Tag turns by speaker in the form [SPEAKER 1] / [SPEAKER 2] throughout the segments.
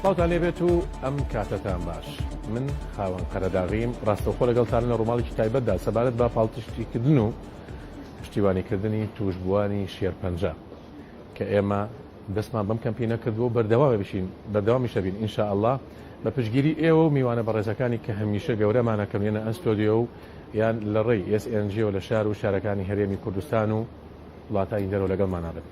[SPEAKER 1] سڵاوتان لێبێت و ئەم کاتەتان باش من خاوەن قەرەداغیم ڕاستەوخۆ لەگەڵتان لە ڕووماڵێکی تایبەتدا سەبارەت بە پاڵپشتیکردن و پشتیوانیکردنی توشبووانی شێرپەنجە کە ئێمە دەستمان بەم کەمپی نەکردووە بەردەوامە بشین بەردەوامیشە بین ئینشا ئەله بە پشگیری ئێوە و میوانە بەڕێزەکانی کە هەمیشە گەورەمانەکەم یەنە ئەستۆدیۆ و یان لە ڕێی SNG و لە شار و شارەکانی هەرێمی کوردستان و وڵاتانی دەرەوە لەگەڵمانابن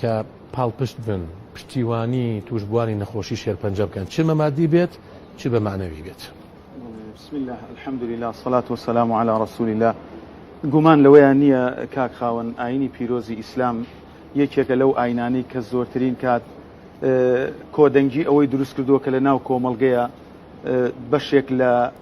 [SPEAKER 1] کە پاڵپشت بن، پشتیوانی توشبووانی نەخۆشی شێرپەنجە بکەن، چ بە ماددی بێت چ بە مەعنەوی بێت. بسم اللە
[SPEAKER 2] الحمد للە الصلاة والسلام علی رسول اللە گومان لەوەیان نییە کاک خاوەن ئایینی پیرۆزی ئیسلام یەکێکە لەو ئایینانەی کە زۆرترین کات کۆدەنگی ئەوەی دروستکردووە کە لەناو کۆمەڵگەیە بەشێک لە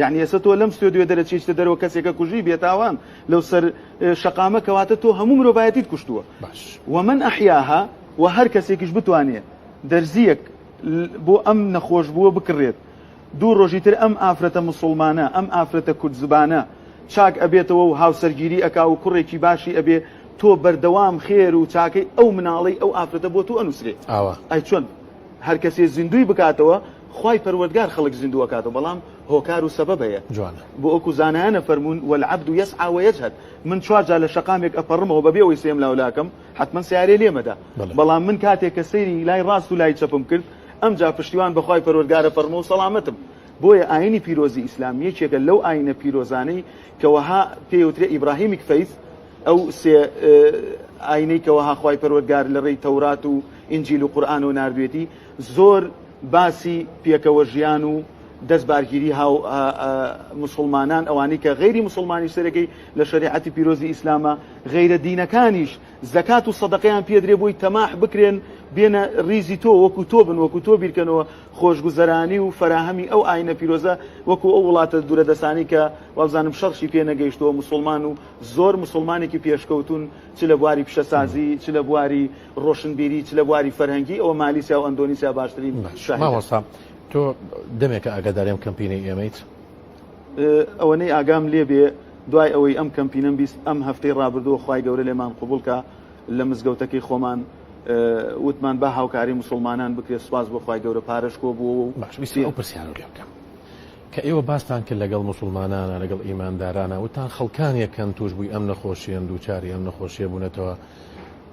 [SPEAKER 2] یەعنی ئێستا تۆ لەم ستۆدیۆ دەرەچیشتە دەرەوە کەسێکە کوژی بێتاوان لەو سەر شەقامە کەواتە تۆ هەموو مرۆڤایەتیت کوشتووە باش ومن ئەحیاها و هەر کەسێکیش بتوانێت دەرزیەک بۆ ئەم نەخۆش بووە بکڕێت دوو ڕۆژی تر ئەم ئافرەتە مسلمانە ئەم ئافرەتە کورد زبانە چاک ئەبێتەوە و هاوسەرگیری ئەکا و کوڕێکی باشی ئەبێ تۆ بەردەوام خێر و چاکەی ئەو مناڵی ئەو ئافرەتە بۆ تو ئەنووسێ ئاوا ئەی چۆن هەر کەسێ زیندوی بکاتەوە خوای پەروەردگار خەڵک زیندوو ئەکاتەوە بەڵام هۆکار و سەبەب هەیە جوانە بۆ وەکو زانایان ئەفەرموون والعبد یسعی ویجهد من چوار جار لە شەقامێک ئەپەڕمەوە بەبێ ئەوەی سێم لاو لاکەم حەتمەن سەیارەی لێم ئەدا بەڵێ بەڵام من کاتێک کە سەیری لای ڕاست و لای چەپم کرد ئەمجا پشتیوان بە خوای پەروەردگار ئەپەڕمەوە و سەڵامەتم بۆیە ئاینی پیرۆزی ئیسلام یەکێکە لەو ئاینە پیرۆزانەی کە وەها پێی وترێ ئیبراهیمیک فەیس ئەو سێ ئاینەی کە وەها خوای پەروەردگار لە ڕێی تەورات و ئینجیل و قورئانەوە ناردوێتی زۆر باسی پێکەوە ژیان و دەست بارگیری هاو مسلمانان ئەوانی کە غیری مسلمانی سەرەکەی لە شریعەتی پیرۆزی ئیسلامە غیرە دینەکانیش زکات و صدقیان پێدرێ بۆی تەماح بکرێن بێنە ریزی تۆ وەکو تۆ بن وەکو تۆ بیرکەنەوە خۆشگوزەرانی و فراهەمی ئەو ئاینە پیرۆزە وەکو ئەو وڵاتە دوورە دەسانی کە وابزانم شەڕشی پێ نەگەیشتووە مسلمان و زۆر مسلمانێکی پێشکەوتون چ لە بواری پیشەسازی چ لە بواری ڕۆشنبیری چ لە بواری فەرهەنگی ئەوە مالیسیا و ئەندۆنیسیا باشترین مامۆستا
[SPEAKER 1] تۆ دەمێکە ئاگاداریم کەمپینی ئێمەیت
[SPEAKER 2] ئەوەنەی ئاگام لێ بێ دوای ئەوەی ئەم کەمپینم بیست ئەم هەفتەی ڕابردووە خی گەورە لێمان قوبولکە لە مزگەوتەکەی خۆمان وتمان با هاوکاری مسلمانان بکرێت سپاس بۆ خی گەورە پارەش کۆ بووە و باشویستی ئەو پرسیارە لێ
[SPEAKER 1] بکەم کە ئێوە باستان کرد لەگەڵ مسلمانانە لەگەڵ ئیماندارانە وتان خەڵکانیەکەن توش بووی ئەم نەخۆشیان دووچاری ئەم نەخۆشیە بوونەتەوە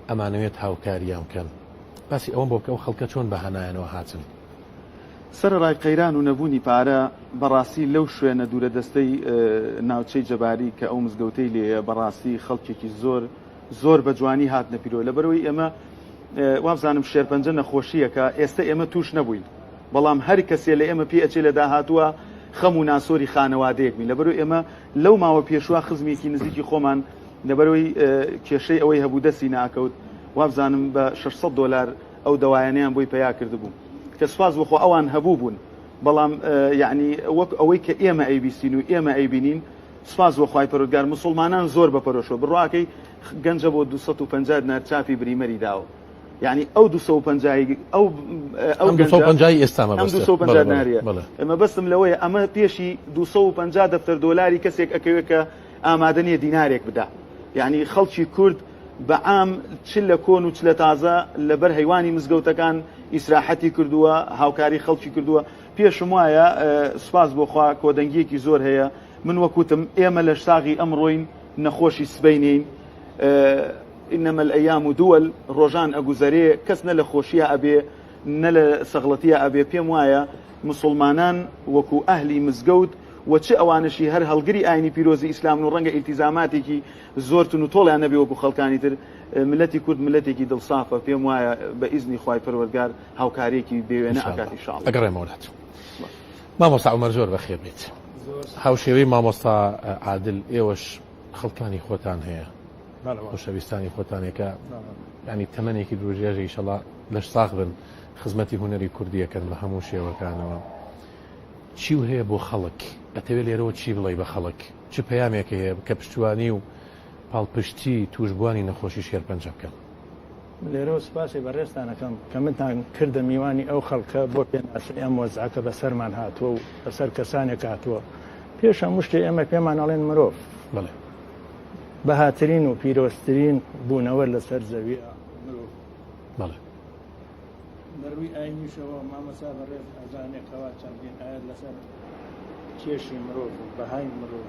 [SPEAKER 1] ئەمانەوێت هاوکاریان بکەن باسی ئەوەم بۆبکە ئەو خەڵکە چۆن بەهانایانەوە هاتن. سەرەڕای
[SPEAKER 2] قەیران و نەبوونی پارە، بەڕاستی لەو شوێنە دوورە دەستەی ناوچەی جەباری کە ئەو مزگەوتەی لێیە بەڕاستی خەڵکێکی زۆر زۆر بە جوانی هاتنە پیرۆ لەبەرئەوەی ئێمە وابزانم شێرپەنجە نەخۆشییەکە ئێستە ئێمە تووش نەبووین بەڵام هەر کەسێ لە ئێمە پێ ئەچێ لە داهاتووە خەم و ناسۆری خانەوادەیەک بین لەبەرو ئێمە لەو ماوە پێشوە خزمێکی نزیکی خۆمان لەبەرئەوەی کێشەی ئەوەی هەبوو دەستی نەئەکەوت، وابزانم بە شەش سەد دۆلار ئەو دەوایانەیان بۆی پەیا کردبوو، کە سوپاس بۆ خوا ئەوان هەبووبوون، بەڵام یەعنی وەک ئەوەی کە ئێمە ئەیبیستین و ئێمە ئەیبینین، سوپاس بۆ خوای پەروەردگار موسوڵمانان زۆر بە پەرۆشەوە، بڕواکەی گەنجە بۆ دوو سەد و پەنجا دینار چاپی بریمەری داوە، یەعنی ئەو دوو سەد و پەنجا ی ئەو ئەم دوو سەد و پەنجا ی ئێستا
[SPEAKER 1] مەبەستە، ئەم دوو سەد و پەنجا دیناریە،
[SPEAKER 2] مەبەستم لەوەیە ئەمە پێشی دوو سەد و پەنجا دەفتەر دۆلاری کەسێک ئەکەوێت کە ئامادە نیە دینارێک بدا یانی خەڵکی کورد بە عام چ لە کۆن و چ لە تازە لە بەر هەیوانی مزگەوتەکان ئیسراحەتی کردووە هاوکاری خەڵکی کردووە پێشم وایە سوپاس بۆخوا کۆدەنگیەکی زۆر هەیە من وەکوتم ئێمە لەش ساغی ئەمڕۆین نەخۆشی سبینین إنما الأيام دول ڕۆژان ئەگوزەرێ کەس نە لە خۆشیە ئەبێ نە لە سەغڵەتیە ئەبێ پێم وایە مسلمانان وەکو ئەهلی مزگەوت و چ ئەوانەشی هەر هەڵگری ئاینی پیرۆزی ئیسلامن و ڕەنگە ئیلتیزاماتێکی زۆر تون و تۆڵیان نەبێ وەکو خەڵکانی تر، ملەتی کورد ملەتێکی دڵ سافە پێم وایە بە ئیزنی خوای پەروەردگار هاوکاریەکی بێ وێنە ئەکات ان شاء اللە. ئەگەڕێمەوە لات
[SPEAKER 1] مامۆستا عومەر زۆر بەخێر بێیت هاوشێوەی مامۆستا عادل ئێوەش خەڵکانی خۆتان هەیە خۆشەویستانی خۆتانێکە ینی تەمەێکی درۆژێژە ئیشەڵا لەش ساخ بن خزمەتی هوەری کوردیەکەن بە هەموو شێوەکانەوە. چی و هەیە بۆ خەڵک؟ ئەتەوێ لێرەوە چی بڵێی بە خەڵک؟ چ پەیامێک هەیە کە پشتیوانی و پاڵپشتی تووشبووانی نەخۆشی شێرپەنجە بکەن؟ لێرەوە
[SPEAKER 3] سوپاسی بەڕێزتان ئەکەم کە منتان کردە میوانی ئەو خەڵکە بۆ پێناسەی ئەم وەزعە کە بەسەرمان هاتووە و بەسەر کەسانێک هاتووە پێش هەموو شتێ ئێمە پێمان ئەڵێن مرۆڤ بەڵێ بەهاترین و پیرۆزترین بوونەوەر لەسەر زەویە مرۆڤ بەڵێ لە ڕووی ئاینیشەوە مامەسا بەڕێز ئەزانێ کەوا چەندین ئاەت لەسەر کێشی مرۆڤ و بەهای مرۆڤ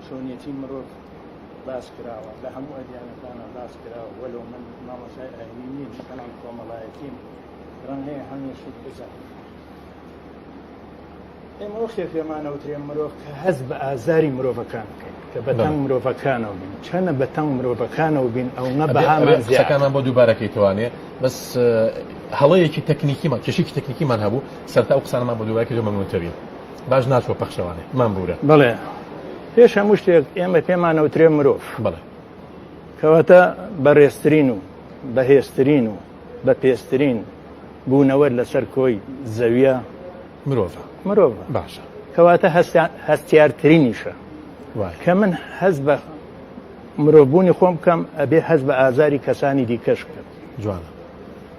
[SPEAKER 3] چۆنیەتی مرۆڤ باس کراوە لە هەموو ئەدیانەکانە باس کراوە وەلو من مامەسای ئاینی نیم بەڵام کۆمەڵایەتیم ڕەنگەیە هەمێشت بزانم ئێمە ئەو خێ پێمان ئەوترێ مرۆڤ کە هەز بە ئازاری مرۆڤەکان بکەین کە بەتەنگ مرۆڤەکانەوە بین چەنە بەتەنگ مرۆڤەکانەوە بین ئەو نە بەهامان زیەکانمان بۆ دووبارەکەی
[SPEAKER 1] توانێ بەس هەڵەیەکی تەکنیکیمان کێشێکی تەکنیکیمان هەبوو سەرتا ئەو قسانمان بۆ دووبارەکە لە مەمنوتەوی باش ناچوە پەخشەوانێ من بورە بڵێ
[SPEAKER 3] پێش هەموو شتێک ئێمە پێمان ئەوترێ مرۆڤ بڵێ
[SPEAKER 1] کەواتە
[SPEAKER 3] بەڕێسترین و بەهێزترین و بە پێسترین بوونەوەر لەسەر کۆی زەویە مرۆڤ
[SPEAKER 1] مرۆڤ باشە
[SPEAKER 3] کەواتە هەستیارترینیشە کە من هەز بە مرۆڤبوونی خۆم بکەم ئەبێ هەز بە ئازاری کەسانی دیکەش بکەم جوانە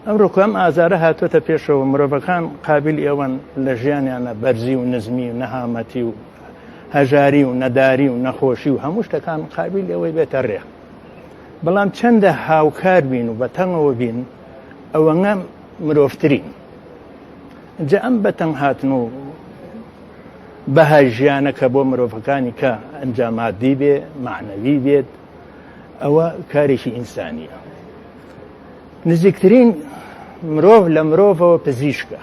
[SPEAKER 1] ئەم ڕۆکەم
[SPEAKER 3] ئازارە هاتوۆتە پێشەوە مرۆڤەکان قابل ئێوەن لە ژیانیانە بەرزی و نزمی و نەهامەتی و هەژاری و نەداری و نەخۆشی و هەموو شتەکان قابل ئەوەی بێتە ڕێ بەڵام چەندە هاوکار بین و بە تەنگەوە بین ئەوەنە مرۆڤترین جا ئەم بەتەنگ هاتن و بەهای ژیانەکە بۆ مرۆڤەکانی کە ئەنجامادی بێ معنەوی بێت ئەوە کارێکی ئینسانیە نزیکترین مرۆڤ لە مرۆڤەوە پزیشکە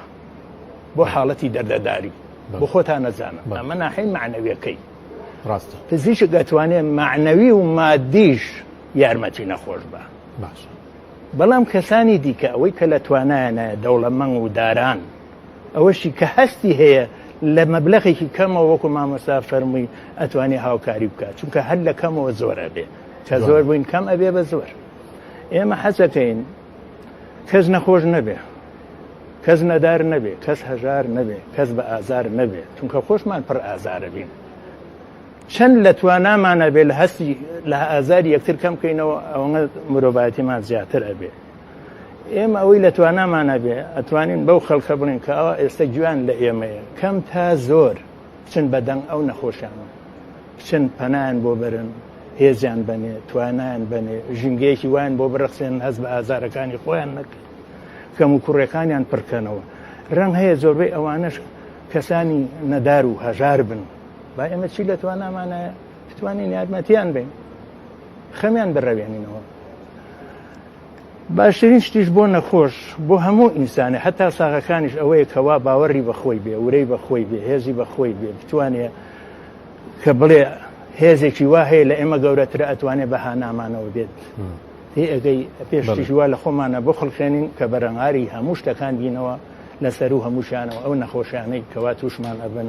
[SPEAKER 3] بۆ حاڵەتی دەردەداری بۆ خۆتان نەزانە ئەمە ناحی معنەویەکەی ڕاستە
[SPEAKER 1] پزیشک دەتوانێت
[SPEAKER 3] معنەوی و مادیش یارمەتی نەخۆش بە باش
[SPEAKER 1] بەڵام
[SPEAKER 3] کەسانی دیکە ئەوەی کە لە توانایانایە دەوڵەمەنگ و داران ئەوەشی کە هەستی هەیە لە مەبلغێکی کەمەوە وەکو مامۆستا فەرمووی ئەتوانی هاوکاری بکات چونکە هەر لە کەمەوە زۆرە بێ کە زۆر بووین کەم ئەبێ بە زۆر ئێمە حەزەکەین کەس نەخۆش نەبێ کەس نەدار نەبێ کەس هەژار نەبێ کەس بە ئازار نەبێ چونکە خۆشمان پڕ ئازارە بین چەند لە توانامان ئەبێ لە هەستی لە ئازاری یەکتر کەم بکەینەوە ئەوەنە مرۆڤایەتیمان زیاتر ئەبێ ئێمە ئەوەی لە توانامان ئەبێ ئەتوانین بەو خەڵکە بڵین کە ئەوە ئێستا گویان لە ئێمەیە کەم تا زۆر بچن بە دەنگ ئەو نەخۆشانە بچن پەنایان بۆ بەرن هێزیان بەنێ توانایان بەنێ ژینگەیەکی وایان بۆ بڕخسێن هەز بە ئازارەکانی خۆیان نەکرد کەم و کوڕەکانیان پڕکەنەوە ڕەنگ هەیە زۆربەی ئەوانش کەسانی نەدار و هەژار بن با ئێمە چی لە توانامانایە بتوانین یارمەتیان بین خەمیان بڕەوێنینەوە باشترین شتیش بۆ نەخۆش بۆ هەموو ئینسانە هەتا ساغەکانیش ئەوەیە کەوا باوەڕی بەخۆی بێ ورەی بەخۆی بێ هێزی بەخۆی بێ بتوانێت کە بڵێ هێزێکی وا هەیە لە ئێمە گەورەتر ئەتوانێت بە هانامانەوە بێت هی ئەگەی پێشتیژوا لە خۆمانە بخڵخێنین کە بەرەنگاری هەموو شتەکان دینەوە لەسەر و هەمووشانەوە ئەو نەخۆشیانەی کەوا تووشمان ئەبن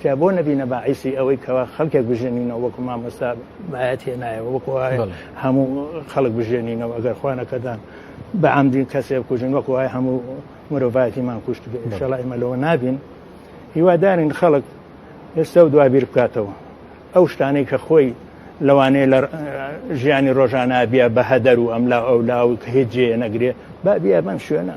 [SPEAKER 3] تیا بۆ نەبینە باعیسی ئەوەی کەوا خەڵکێک بژێنینەوە وەکو مامۆستا باەت هێنایەوە وەکو هەموو خەڵک بژێنینەوە ئەگەر خوانەکەدان بە ئەمدین کەسێ بکوژن وەکو وای هەموو مرۆڤاتیمان کوشت بێشەڵی مەلەوە نابین هیوادارین خەڵک ئێستا و دوابیر بکاتەوە ئەو شتانەی کە خۆی لەوانەیە لە ژیانی ڕۆژانە بیا بە هەدەر و ئەملا ئەولا و هێجێ نەگرێ با بیا بەم شوێنە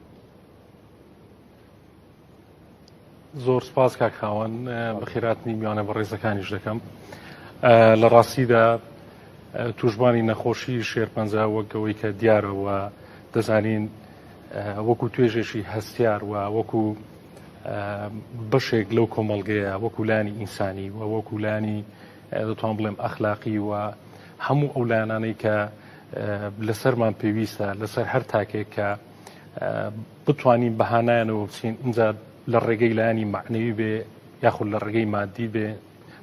[SPEAKER 4] زۆر سپاس کاک خاوەن بەخێراتنی میوانە بە ڕێزەکانیش دەکەم لە ڕاستیدا توشببانی نەخۆشی شێرپەنجە وەکەوەی کە دیارەوە دەزانین وەکو توێژێکی هەستیار و وەکو بەشێک لەو کۆمەلگەیە وەکولانی ئینسانی و وەکولانی دەتوان بڵێم ئەخلاقی و هەموو ئەو لایەنانەی کە لەسەرمان پێویستە لەسەر هەر تاکێک کە بتوانین بەهانایانەوە بچین اینجا لە ڕێگەی لایانی معنەوی بێ یاخود لە ڕێگەی مادی بێ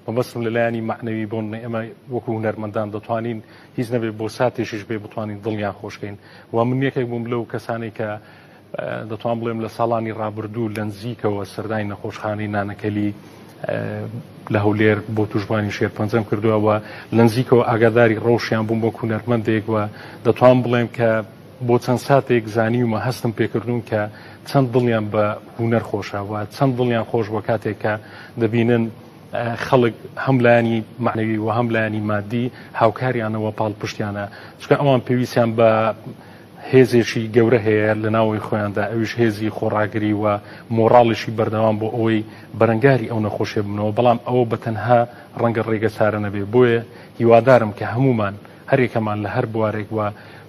[SPEAKER 4] مەبەستم لە لایانی معنەوی بۆن ئێمە وەکو هوەرمەندان دەتوانین هیچ نەبێت بۆ ساتێکیش بێ بتوانین دڵیان خۆشکەین و من یەکێک بووم لەو کەسانی کە دەتوان بڵێم لە ساڵانی ڕابردوو لە نزیکەوە سەردانی نەخۆشخانەی نانەکەلی لە هەولێر بۆ توشبانی شێر پەنجەم کردووەوە لە نزیکەوە ئاگاداری ڕەوشیان بووم بۆ کوونەرمەندێک وە دەتوان بڵێم کە بۆ چەند ساتێک زانیومە هەستم پێکردوون کە چەند دڵیان بە هوونەر خۆشەوە چەند دڵیان خۆش بە کاتێک کە دەبینن خەڵک هەملایانی معنەوی و هەملایانی مادی هاوکاریانەوە پاڵپشتیانە چکە ئەوان پێویستیان بە هێزێکی گەورە هەیە لە ناوەی خۆیاندا ئەویش هێزی خۆڕاگری و مۆراڵیشی بەردەوام بۆ ئەوەی بەرەنگاری ئەو نەخۆشێ بنەوە بەڵام ئەوە بە تەنها ڕەنگە ڕێگە چارە نەبێ بۆیە هیوادارم کە هەمومان هەریەکەمان لە هەر بوارێک و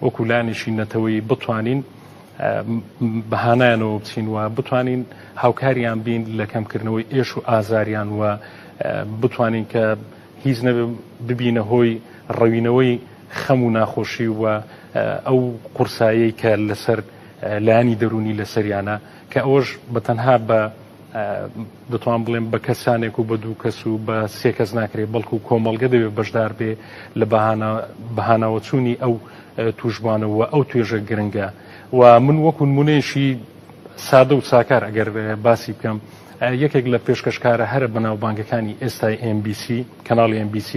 [SPEAKER 4] وەکو لایەنێکی نەتەوەیی بتوانین بە هانایانەوە بچین و بتوانین هاوکاریان بین لە کەمکردنەوەی ئێش و ئازاریان و بتوانین کە هیچ نەبێ ببینە هۆی ڕەوینەوەی خەم و ناخۆشی و ئەو قورسایی کە لەسەر لایانی دەرونی لەسەریانە کە ئەوەش بە تەنها بە دەتوان بڵێم بە کەسانێک و بە دوو کەس و بە سێ کەس ناکرێت بەڵکو و کۆمەڵگە دەوێت بەشدار بێ لە بەهاناوەچوونی ئەو توشبانەوە ئەو توێژە گرنگە و من وەکو نمونەیەشی سادە و ساکار ئەگەر باسی بکەم یەکێک لە پێشکەشکارە هەرە بەناوبانگەکانی ئێستای MBC کەناڵی MBC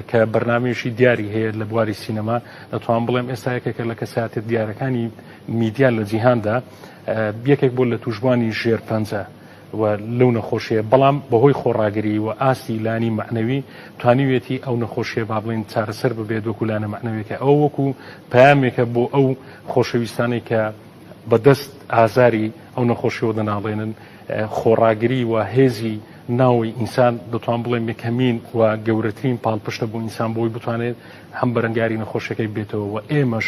[SPEAKER 4] کە بەرنمێشی دیاری هەیە لە بواری سینەما دەتوان بڵێم ئێستا یەکێکە لە کەساتێت دیارەکانی میدیا لە جیهاندا یەکێک بوو لە تووشبووانی ژێرپەنجە و لەو نەخۆشیە بەڵام بەهۆی خۆڕاگری و ئاستی لانی معنەوی توانیوێتی ئەو نەخۆشیە با بڵین چارەسەر ببێت وەکو لانە معنەوێکە ئەو وەکو پامێکە بۆ ئەو خۆشەویستانی کە بەدەست ئازاری ئەو نەخۆشیەوە دەناڵێنن خۆڕاگری و هێزی ناوی ئینسان دەتوان بڵێ مکەمین و گەورەترین پاڵپشتە بۆ ئینسان بۆی بتوانێت هەم بەرەنگاری نەخۆشەکەی بێتەوە و ئێمەش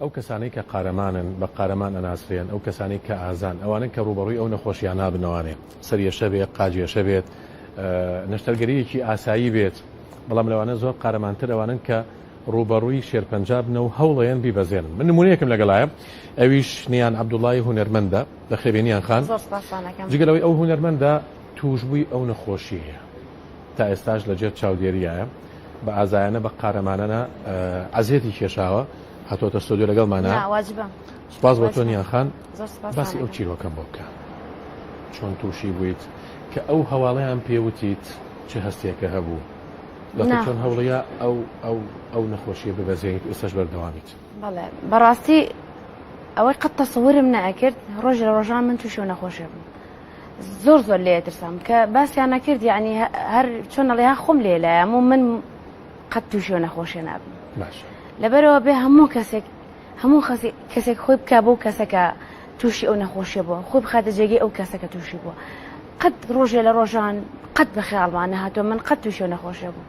[SPEAKER 1] ئەو کەسانەی کە قارەمانن بە قارەمان ئەناسرێن، ئەو کەسانەی کە ئازان ئەوانەن کە ڕووبەڕووی ئەو نەخۆشیانە بن، لەوانەیە سەریەشە بێت، قاجیەشە بێت، نەشتەرگەرییەکی ئاسایی بێت، بەڵام لەوانە زۆر قارەمانتر ئەوانەن کە ڕووبەڕووی شێرپەنجە بن و هەوڵەیەن بیبەزێنن. من نموونەیەکم لەگەڵایە ئەویش نیان عەبدوڵڵای هونەرمەندە، بەخێربێنیان خان. زۆر سوپاستان ئەکەم. جگە لەوەی ئەو هونەرمەندە تووشبووی ئەو نەخۆشیەیە. تا ئێستاش لە ژێر چاودێریایە بە ئازایانە بە قارەمانەە عزیێتی کێشاوە هاتۆتە سۆدیو لەگەڵمانە واجبە
[SPEAKER 5] سپاس بۆ تۆنیان
[SPEAKER 1] خان باسی ئەو
[SPEAKER 5] چیرۆکەم بۆ بکە
[SPEAKER 1] چۆن تووشی بوویت کە ئەو هەواڵیان پێوتیت چه هەستێکە هەبوو چۆن هەوڵەیە ئەو ئەو ئەو نەخۆشیە ببەزێنیت ئێستاش بەردەوامیت بەڵێ
[SPEAKER 5] بەڕاستی ئەوەی قەت تەسەورم نەکرد ڕۆژ لە ڕۆژان من تووشی و نەخۆشێ بوو زۆر زۆر لێ ترسام کە باسییان نەکرد یعنی هەر چۆن نەڵێها خۆم لێ لایەم و من قەت تووشێ نەخۆشیێ نابم
[SPEAKER 1] لەبەرەوە بێ
[SPEAKER 5] هەموو کەسێک هەموو کەسێک خۆی بک بۆ کەسەکە تووشی ئەو نەخۆشیە بووە خۆی بخاتە جێگەی ئەو کەسەکە تووشی بووە قەت ڕۆژێ لە ڕۆژان قەت بە خیاڵمان نەهاتۆ من قەت تووشێ نەخۆشیە بوو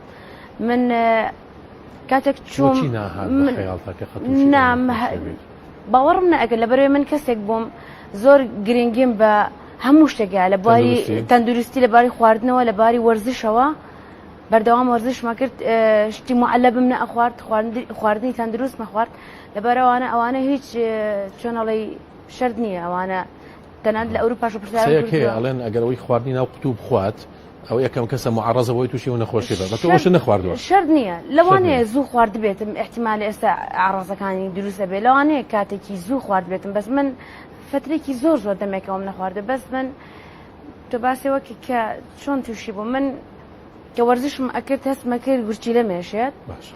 [SPEAKER 5] من کاتێک چۆن نام باوەڕم نە ئەگەر لەبەرەوەی من کەسێک بووم زۆر گرنگیم بە هەموو شتێکە لە بواری تەندروستی لە باری خواردنەوە لە باری وەرزشەوە بەردەوام وەرزشمە کرد شتی معلە بم نە ئەخوارد خواردنی تەندروستمە خوارد لەبەرەوانە ئەوانە هیچ چۆنەڵی شرد نییە ئەوانە تەنانەت لە ئەوروپاش پرسیارم کردووە قسەیەک هەیە ئەڵێن ئەگەر ئەوەی
[SPEAKER 1] خواردنی ناو قوتوو بخوات ئەو یەکەم کەسە معەڕەزە بۆی تووشی و نەخۆشی بە بە تۆ ئەوشت نەخواردووە شەرت نییە لەوانەیە
[SPEAKER 5] زوو خواردبێتم ئیحتیمالە ئێستا ئاڕاستەکانی دروست دەبێت لەوانەیە کاتێکی زوو خواردبێتم بەس من فترێکی زۆر زۆر دەمێکەوەم نەخواردە بەس من تۆ باسی وەکی کە چۆن تووشی بوو من کە وەرزشم ئەکرد هەستمە کرد گورچیلە مێشێت باشە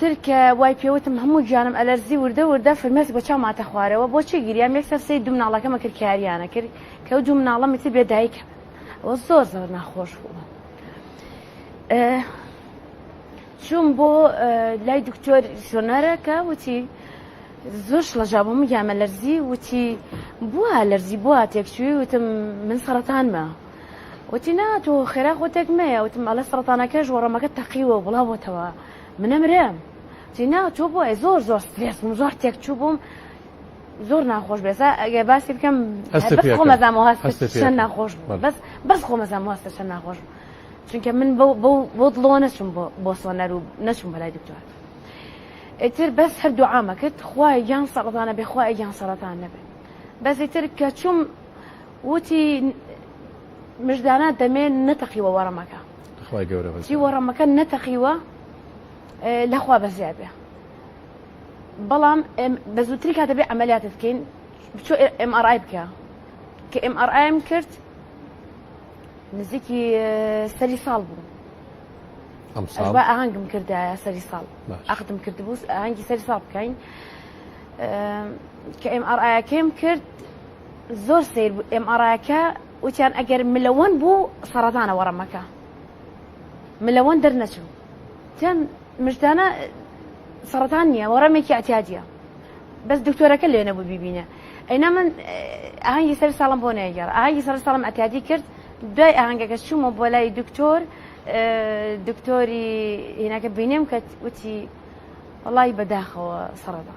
[SPEAKER 5] تر کە وای پێوتم هەموو گیانم ئەلەرزی وردە وردە فرمێسک بە چاو ماتە خوارەوە بۆچی گیریام یەک سەرسەی دوو مناڵەکەمە کرد کاریانە کرد کە و دوو مناڵەمی تر بێدایکە ئەوە زۆر زۆر ناخۆش بوو چوون بۆ لای دکتۆر سۆنەرەکە وتی زۆر شڵەژا بۆ میامە لەرزی وتی بووە لەرزی بووە تێکچوی وتم من سەرەتانمە وتی نا تۆ خێرا خۆ تێک مەیە وتم ئەڵێ سەرەتانەکەش وەڕەمەکە تەقیوە و بڵاو بۆتەوە منە مرم وتی نا تۆ بۆ ئەی زۆر زۆر سترێس بووم زۆر تێک چوو بووم زۆر ناخۆش بێسا ئەگە باسی بکەم هەست بەس پێکە. خۆمەزام هەست هەست پێکە. چەند ناخۆش بوو بەڵێ. بەس بەس خۆمەزام هەست چەند ناخۆش بوو چونکە من بەو بەو بۆ دڵەوە نەچوم بۆ بۆ سۆنەر و نەچوم بەلای دکتۆر ئیتر بەس هەر دوعامە کرد خوای یان سەرەتانە بێ خوای یان سەرەتان نەبێ بەس ئیتر کە چوم وتی مژدانە دەمێ نەتەقیوە وەڕەمەکە خوای گەورە بەس چی وەڕەمەکە نەتەقیوە لەخوا بە زیاد بێ بەڵام بە زووتری کاتە بێ ئەمەلیاتت بکەین بچۆ MRI بکە کە MRIم کرد نزیکی سەری ساڵ بوو ئەم ساڵ ئەشبا ئاهەنگم کردایە سەری ساڵ باش. ئەخدم کردبوو ئاهەنگی سەری ساڵ بکەین کە ئێم ئەڕایەکەیم کرد زۆر سەیر بوو ئێم ئاڕایەکە وتیان ئەگەر ملەوەن بوو سەڕەتانە وەڕەمەکە ملەوەن دەرنەچوو تیان مژدانە سەرەتان نییە وەڕەمێکی ئەتیادە بەس دکتۆرەکە لێ نەبوو بیبینە ئەینا من ئاهنگی سەر ساڵم بۆ نەیەگەڕ ئاهنگی سەر ساڵم ئەتیادی کرد دوای ئاهنگەکە چوومە بۆ لای دکتۆر دکتۆری هینەکە بینێم کە وتی وڵی بەداخەوە سەرەدا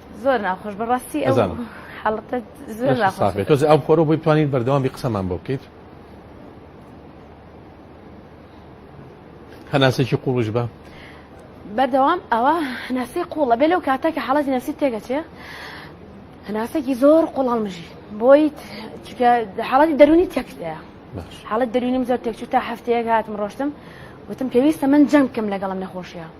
[SPEAKER 1] زۆر ناخۆش
[SPEAKER 5] بەڕاستی ئەو ئەزانم. حەڵەتە زۆر لەشی ناخۆش ساغ بێت تۆزێ ئەو خۆرە بۆی بتوانین
[SPEAKER 1] بەردەوامی قسەمان بۆ بکەیت هەناسێکی قوڵش بە بەردەوام
[SPEAKER 5] ئەوە هەناسەی قوڵە بێ لەو کاتە کە حەڵەتی نەفسی تێگەچێ هەناسەکی زۆر قوڵاڵ مژی بۆی چکە حاڵەتی دەرونی تێکتەیە باش حاڵەت دەرونیم زۆر تێکچوو تا هەفتەیەک هاتم ڕۆشتم وتم پێویستە من جەنگ بکەم لەگەڵم نەخۆشیە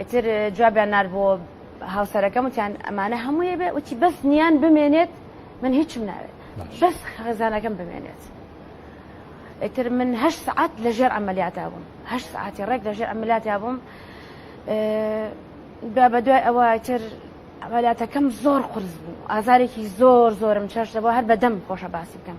[SPEAKER 5] ئیتر جوابیان نار بۆ هاوسەرەکەم وتیان ئەمانە هەموویە بێ وتی بەس نیان بمێنێت من هیچم ناوێت بەس خەزانەکەم بمێنێت. ئیتر من هە سعات لەژێر ئەمەلیاتا بووم هە سعاتی ڕێک لەژێر ئەمەلاتا بووم بیا بە دوای ئەوە تر ئەمەلاتەکەم زۆر قرس بوو ئازارێکی زۆر زۆرم چێشتەوە هەر بەدەم خۆشە باسی بکەم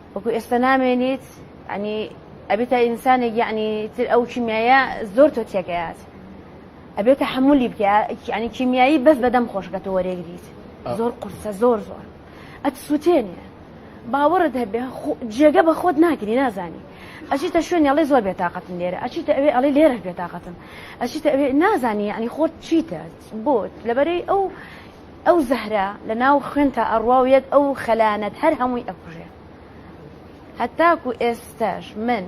[SPEAKER 5] وەکو ئێستا نامێنیت یعنی ئەبێتە ئینسانێک یعنی تر ئەو کیمیایە زۆر تۆ تێکەیات ئەبێت تحملی بکە یعنی کیمیایی بەس بەدەم خۆشکە تۆ وەرێگریت زۆر قورسە زۆر زۆر ئەت سووتێنێ باوەڕت هەبێ جێگە بە خۆت ناگری نازانی ئەچیتە شوێن ئەڵێ زۆر بێتاقەتم لێرە ئەچیتە ئەوێ ئەڵێ لێرە بێتاقەتم ئەچیتە ئەوێ نازانی یعنی خۆت چیتە بۆت لەبەرەی ئەو ئەو زەهرە لە ناو خوێنتا ئەڕوا و یەک ئەو خەلانەت هەر هەمووی ئەکوژێ. هەتاکو ئێستاش من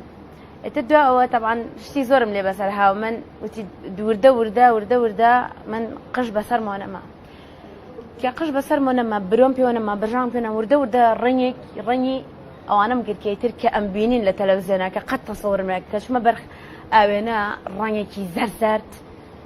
[SPEAKER 5] ئیتر دوا ئەوە تەبعەن شتی زۆرم لێ بەسەر هاو من وتی دووردە وردە وردە وردە من قژ بەسەر مۆنەما. کە قژ بەسەر مۆنەما برۆم پێوەنەما بەژان پێێنە وردە وردە ڕنگێک ڕەنگی ئەوانم گرکەیتر کە ئەم بینین لە تەلەوزیۆنەکە قەت تەسەورمێک کەچمە بەرخ ئاوێنە ڕەنگێکی زەرزەرد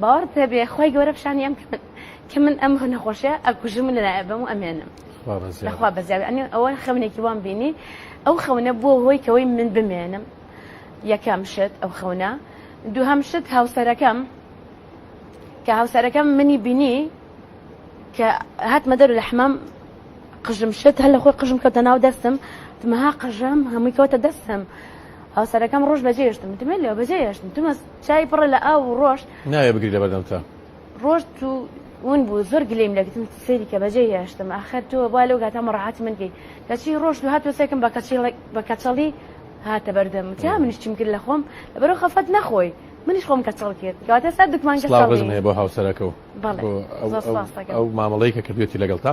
[SPEAKER 5] باوەڕت پێبێ خوای گەورە پیشانی ئەم کە من ئەم نەخۆشیە ئەکوژم من لەلایە بەم و ئەمێنم خوا بەزیاد ئەنی ئەوە خەونێکی وام بینی ئەو خەونە بۆ هۆی کەەوەی من بمێنم یەکەم شت ئەو خەونە دووهەم شت هاوسەرەکەم کە هاوسەرەکەم منی بینی کە هاتمە دەرو لە حمام قژم شت هەر لە خۆی قژم کەوتە ناو دەستم تمەها قژم هەمووی کەوتە دەستم هاوسەرەکەم ڕۆژ بەجێشتم تمێن لێ بەجێشتم تمە چای پڕە لە ئاو و ڕۆژ. ناوێ بگری لە بەردەم
[SPEAKER 1] تا. ڕۆژ تو
[SPEAKER 5] ون بوو زۆر گلیم لەگتم سەیری کە بەجێ هێشتم ئاخر تۆ با لەو گاتە مەڕەحەت من گەی کەچی ڕۆژ تو هاتوە سەکم بە کەچی بە کەچەڵی هاتە بەردەم تا منیش چیم کرد لە خۆم لەبەرەوە خەفەت نەخۆی منیش خۆم کەچەڵ کرد کەواتە سەر دکمان کەسڵاوزم هەیە بۆ هاوسەرەکە
[SPEAKER 1] و بەڵێ ئەو مامەڵەی کە کردوێتی لەگەڵ تا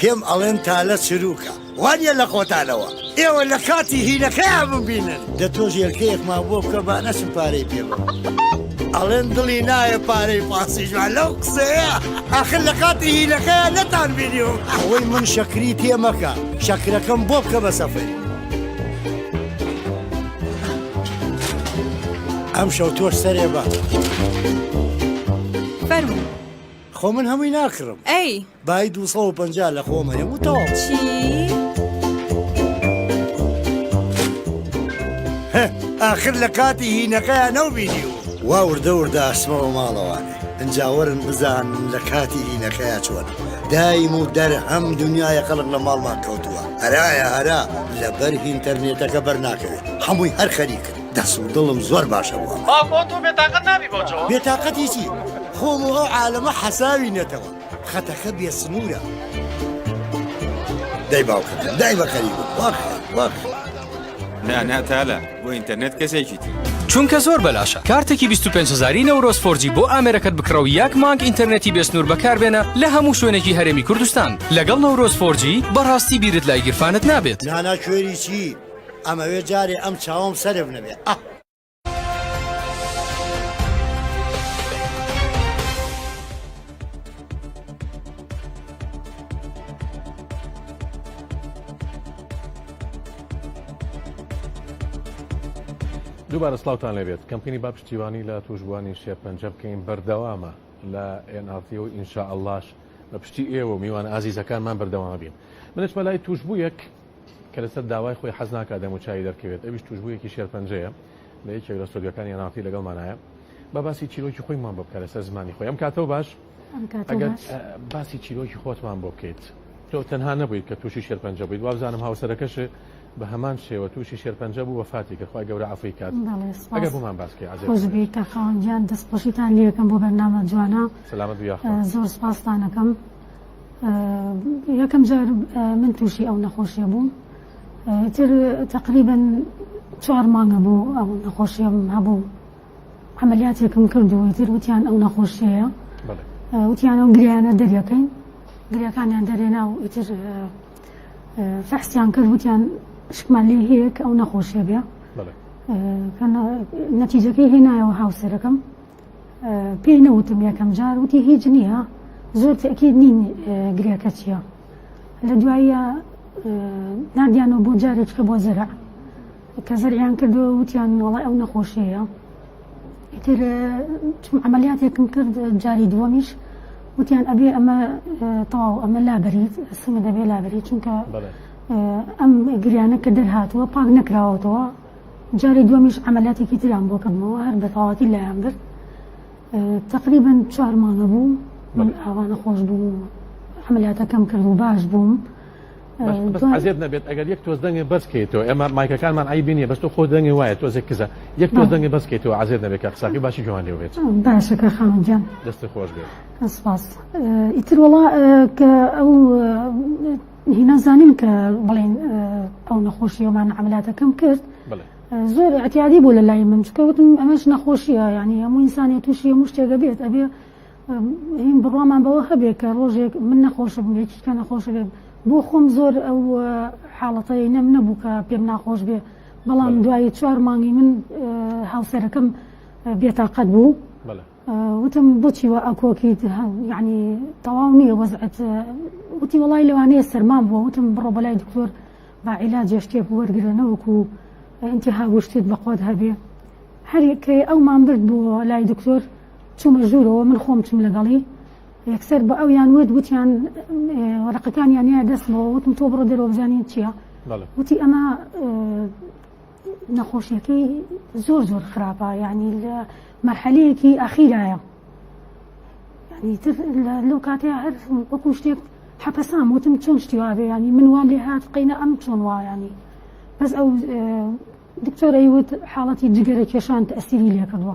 [SPEAKER 6] پێم ئەڵێن تالە چروکە وانیە لە خۆتانەوە ئێوە لە کاتی هیلەکەیان ببینن دە تۆش یەلکەیەکمان بۆ بکە با نەچم پارەی پێ بە ئەڵێن دڵی نایە پارەی پاسیژوان لەو قسەیە ئاخر لە کاتی هیلەکەیان نەتان بینیو ئەوەی من شەکری پێ مەکە شەکرەکەم بۆ بکە بە سەفەری ئەمشەو تۆش سەرێ بە.
[SPEAKER 7] خۆ من
[SPEAKER 6] هەمووی ناکڕم ئەی بای
[SPEAKER 7] 250
[SPEAKER 6] لە خۆمە یەم و تەواو
[SPEAKER 7] چی؟
[SPEAKER 6] ئاخر لە کاتی هینەکەیان نەو بینیوە وا وردە وردە ئەسمەوە ماڵەوانێ ئەجاوەرن بزان لە کاتی هینەکەیا چۆن دایم و دەر هەم دنیاە خەڵک لە ماڵمان کەوتووە هەرایە هەرا لەبەر ئینتەرنێتەکە بەرناکەوێت هەمووی هەر خەریکن دەس و دڵم زۆر باشە بۆ ئەمە. باوکۆ تۆ بێتاقەت
[SPEAKER 8] نابی بۆ جۆ؟ بێتاقەتی چی؟
[SPEAKER 6] خۆم و ئەو عالەمە حەساوی نەتەوە. خەتەکە بێ سنوورە. دەی باوکەکەم دای بە خەریک بوو. وا خێر وا خێر. نا
[SPEAKER 8] نا تالە بۆ ئینتەرنێت کەسێکی تر. چونکە زۆر بەلاشە
[SPEAKER 9] کارتێکی 25 هەزاری نەورۆز فۆرجی بۆ ئامێرەکەت بکڕە و یەک مانگ ئینتەرنێتی بێ سنوور بەکاربێنە لە هەموو شوێنێکی هەرێمی کوردستان لەگەڵ نەورۆز فۆرجی بەڕاستی بیرت لای گیرفانت نابێت. نانا کوێری چی؟
[SPEAKER 6] ئەمەوێ جارێ ئەم چاوەم سەرف نەبێ ئەه.
[SPEAKER 1] دووبارە سلااوان لەبێت کەمپینی با پشتیوانی لە توشبووانی شێرپەنجە بکەین بەردەوامە لە ئێنارتی و ئینشاء اللهش بە پشتی ئێوە و میوان ئازیزەکانمان بەردەوامە بین منش مەلای توشببوویەک کە لەسەر داوای خۆی حەز ناکات دەموچاوی دەرکەوێت، ئەویش توشبوویەکی شێرپەنجەیە لە یەکێک لە ستۆدیۆکانی ئەناڵتی لەگەڵمانایە با باسی چیرۆکی خۆیمان بۆ بکە لەسەر زمانی خۆی ئەم کاتەوە باش ئەگەر باسی چیرۆکی خۆتمان بۆ بکەیت تۆ تەنها نەبوویت کە تووشی شێرپەنجە بوویت وابزانم هاوسەرەکەش بە هەمان شێوە تووشی شێرپەنجە بوو وەفاتی کرد خۆی گەورە عەفوی کات ئەگەر بۆمان باسکەی عەزێت کاکاوان گیان
[SPEAKER 10] دەست خۆشیتان لێ یەکەم بۆ بەرنامە جوانە سەلامەت بیا
[SPEAKER 1] زۆر سپاستان
[SPEAKER 10] ئەکەم یەکەم جار من تووشی ئەو نەخۆشیە بووم تر تقریبن چوار مانگە بوو ئەو نەخۆشیم هەبوو عملیاتێکم کردووە تر وتیان ئەو نەخۆشیەیە وتیان ئەو گریانە دەریەکەین گریەکانیان دەرێنا و ئیتر فەحسیان کرد وتیان شکمان لێ هەیەک ئەو نەخۆشیە بێ نەتیجەکەی هێنایەوە هاوسەرەکەم پێی نەوتم یەکەم جار وتی هیچ نییە زۆر تەکیید نین گرێکە چییە لە دواییە نادیانەوە بۆ جارێککە بۆ زەرع کە زەریان کردو وتیان وڵای ئەو نەخۆشیەیە ئیتر چون عملیاتێکم کرد جاری دووەمیش وتیان ئەبێ ئەمە تەواو ئەمە لابریت سمە دەبێ لابری چونکە ئەم گریانە کە دەرهاتووە پاک نەکراوەتەوە جاری دووەمیش عەمەلیاتێکی تریان بۆ کردمەوە هەر بە تەواوەتی لایان برد تقریبا چوار مانگە بوو من ئاوانە خۆش بوو عملیاتەکەم کرد و باش بووم
[SPEAKER 1] عزیێت نەبێت ئەگەر یەک تۆز دەنگێ بەسکەیتەوە ئێمە مایکەکانمان ئای بینیە بەست خۆ دەنگی وایە تۆزێک کزە یەک تۆز دەنگی بەسکەیتەوە عزیێت نەبێت کە قساقی باشی جوان لێ بێت باشەکە خانجان
[SPEAKER 10] دەست خۆش بێت
[SPEAKER 1] ئیتر
[SPEAKER 10] وڵا کە ئەو نازانین کە بڵین ئەو نەخۆشیەوەمان عملاتەکەم کرد زۆر ئەتیادی بوو لە لای من چکەوتم ئەمەش نەخۆشیە ینی هەموو ئینسانی تووشی هەموو شتێگە بێت ئەبێ هین بڕوامان بەوە هەبێت کە ڕۆژێک من نەخۆشە بوو یەکیکە نەخۆشە بێت بۆ خۆم زۆر ئەو حاڵەتەی نەم نەبوو کە پێم ناخۆش بێ بەڵام دوایی چوار مانگی من هاوسەرەکەم بێتاقەت بوو وتم بۆچی وا ئەکۆکیت یعنی تەواو نییە وەزعت وتی وڵی لەوانەیە سەرمام بووە وتم بڕۆ بەلای دکتۆر با عیلاجێ شتێک وەرگرە نەوەکو ئینتیها وشتت بەخۆت هەبێ هەرکەی ئەومان برد بووە لای دکتۆر چوومە ژوورەوە من خۆم چوم لەگەڵی یەکسەر بە ئەو یان وت وتیان وەرەقەکان یانە دەستمەوە وتم تۆ بڕۆ دەرۆبزانین چییە وتی ئەمە نەخۆشیەکەی زۆر زۆر خراپە یعنی لە مەرحەلەیەکی ئەخیرایە لەو کاتێ هەر وەکو شتێک حەپەسام وتم چۆن شتیوابێ ینی من وام لێ هات قینە ئەم چۆن وایانی بەس ئەو دکتۆرەی وت حاڵەتی جگەرە کێشان تەسیری لێکردوە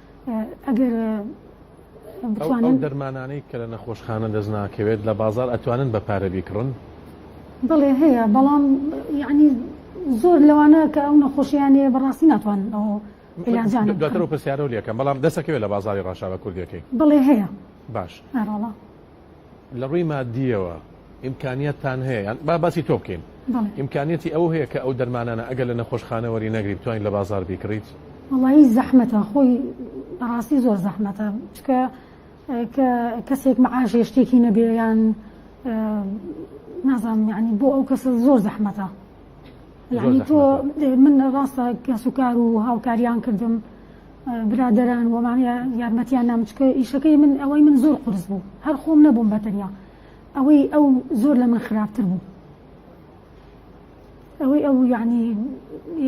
[SPEAKER 10] ئەگەر
[SPEAKER 1] ئەو دەرمانانەی کە لە نەخۆشخانە دەست ناکەوێت لە بازار ئەتوانن بە پارە بیکڕن بڵێ
[SPEAKER 10] هەیە بەڵام یعنی زۆر لەوانە کە ئەو نەخۆشیانەیە بەڕاستی ناتوان ئەو
[SPEAKER 1] دواتر پرسیارە لەکەم بەڵام دەسەکەوێت لە بازاری ڕاشاوە کوردەکەی بڵێ هەیە
[SPEAKER 10] باش. لە
[SPEAKER 1] ڕووی مادییەوە ئیمکانیەتتان هەیە یان با باسی تۆ بکەین ئیمکانیەتی ئەوە هەیە کە ئەو دەرمانانە ئەگەر لە نەخۆشخانە وەری نەگری بتوانین لە بازار بیکڕیت وڵی زەحمەتە
[SPEAKER 10] خۆی بەڕاستی زۆر زەحمەتە چکە کە کەسێک مەعاشێ شتێکی نەبێ یان نازانم یعنی بۆ ئەو کەسە زۆر زەحمەتە یعنی تۆ من ڕاستە کەسوکار و هاوکاریان کردم برادەران وە مامیە یارمەتیان نامچکە ئیشەکەی من ئەوەی من زۆر قرس بوو هەر خۆم نەبووم بەتەنیا ئەوەی ئەو زۆر لە من خراپتر بوو ئەوەی ئەو یعنی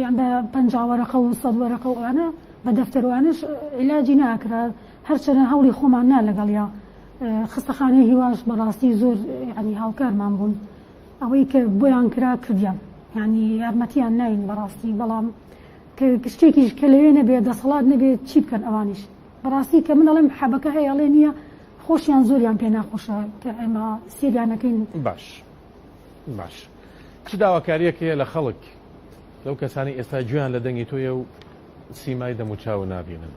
[SPEAKER 10] یان بە پەنجاوەرەقە و سەد وەرەقە وانە بە دەفتەروانش علاجی ناکرا هەرچەنە هەوڵی خۆمان نا لەگەڵیا خستەخانەی هیواش بەڕاستی زۆر ینی هاوکارمان بوون ئەوەی کە بۆیان کرا کردیان ینی یارمەتیان ناین بەڕاستی بەڵام کە شتێکیش کە لەوێ نەبێت دەسەڵات نەبێت چی بکەن ئەوانیش بەڕاستی کە من ئەڵێم حەبەکە هەیە ئەڵێ نییە خۆشیان زۆریان پێ ناخۆشە کە ئێمە سێریانەکەین باش
[SPEAKER 1] باش چ داواکاریەک هەیە لە خەڵک لەو کەسانی ئێستا گوێیان لە دەنگی تۆیە و سیمای دەموچاو نابینن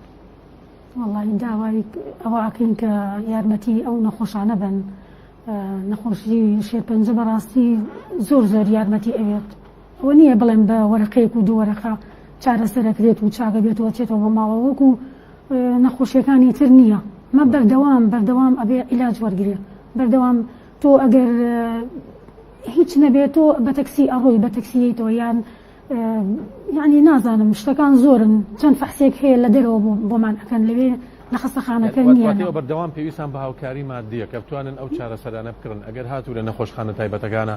[SPEAKER 1] وڵی
[SPEAKER 10] داوای ئەوەکەین کە یارمەتی ئەو نەخۆشانە بن نەخۆشی شێرپەنجە بەڕاستی زۆر زۆر یارمەتی ئەوێت ئەوە نییە بڵێن بە وەرەقەیەک و دوو وەرەقە چارەسەر دەکرێت و چاکە بێتەوە چێتەوە بۆ ماڵەوە وەکو نەخۆشیەکانی تر نییە مە بەردەوام بەردەوام ئەبێ عیلاج وەرگێ بەردەوام تۆ ئەگەر هیچ نەبێت تۆ بە تەکسی ئەڕۆی بە تەکسیەیتەوە یان یعنی نازانم شتەکان زۆرن چەند فەحسێک هەیە لە دەرەوە بۆمان ئەەکەن لەوێ لە خەستەخانەکە نیە بەردەوام پێویستان بە
[SPEAKER 1] هاوکاری مادیە کە بتوانن ئەو چارەسەرانە بکڕن ئەگەر هاتوو لە نەخۆشخانە تایبەتەکانە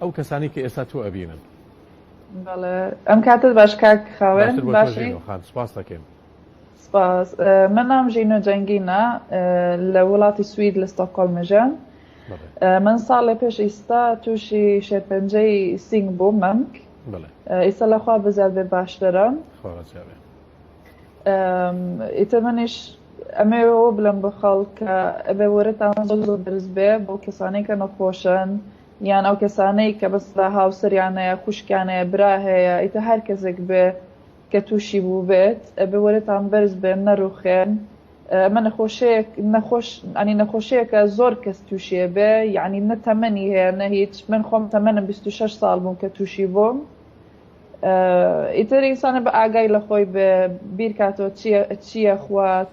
[SPEAKER 1] ئەو کەسانی کە ئێستا تۆ ئەبینن
[SPEAKER 7] بەڵێ ئەم کاتت باش کاک خاوێن باشی خان سپاس دەکەین
[SPEAKER 1] سپاس
[SPEAKER 7] من نام ژینۆ جەنگینە لە وڵاتی سوید لە ستۆکۆل مژەم من ساڵێ پێش ئیستا تووشی شێرپەنجەی سینگ بوو مەمک ئیستا لەخوا بزار بێ باشترم ئیتە منیش ئەمەوەەوە بلم بە خەڵ کە ئەبێ وەرەتان زۆ زۆ درست بێ بۆ کەسانێکە نەخۆشن یان ئەو کەسانەی کە بەس لە هاوسەریان هەیە خوشکیان هەیە برا هەیە ئیتە هەر کەسێک بێ کە تووشی بوو بێت ئەبێ وەرەتان بەرز بێن نەروخێن ئەمە نەخۆشەیەک نەخۆش ئەنی نەخۆشەیەکە زۆر کەس تووشێ بێ یعنی نە تەمەنی هەیە نە هیچ من خۆم تەمەنم 26 ساڵ بووم کە تووشی بووم ئیتر ئینسانە بە ئاگای لە خۆی بێ بیرکاتەوە چییە چییە خوات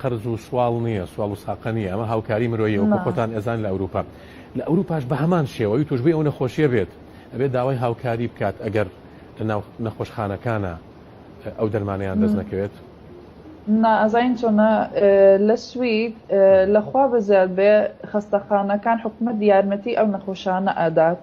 [SPEAKER 1] قەرز و سواڵ نییە سواڵ و ساقە نیە ئەمە هاوکاری مرۆیە و خۆتان ئەزان لە ئەوروپا لە ئەوروپاش بە هەمان شێوەی توشببووی ئەو نەخۆشیە بێت ئەبێت داوای هاوکاری بکات ئەگەر لە ناو نەخۆشخانەکانە ئەو دەرمانیان دەست نەکەوێت نا
[SPEAKER 7] ئەزین چۆنە لە سوید لەخوا بەزیاد بێ خەستەخانەکان حکومت یارمەتی ئەو نەخۆشانە ئەدات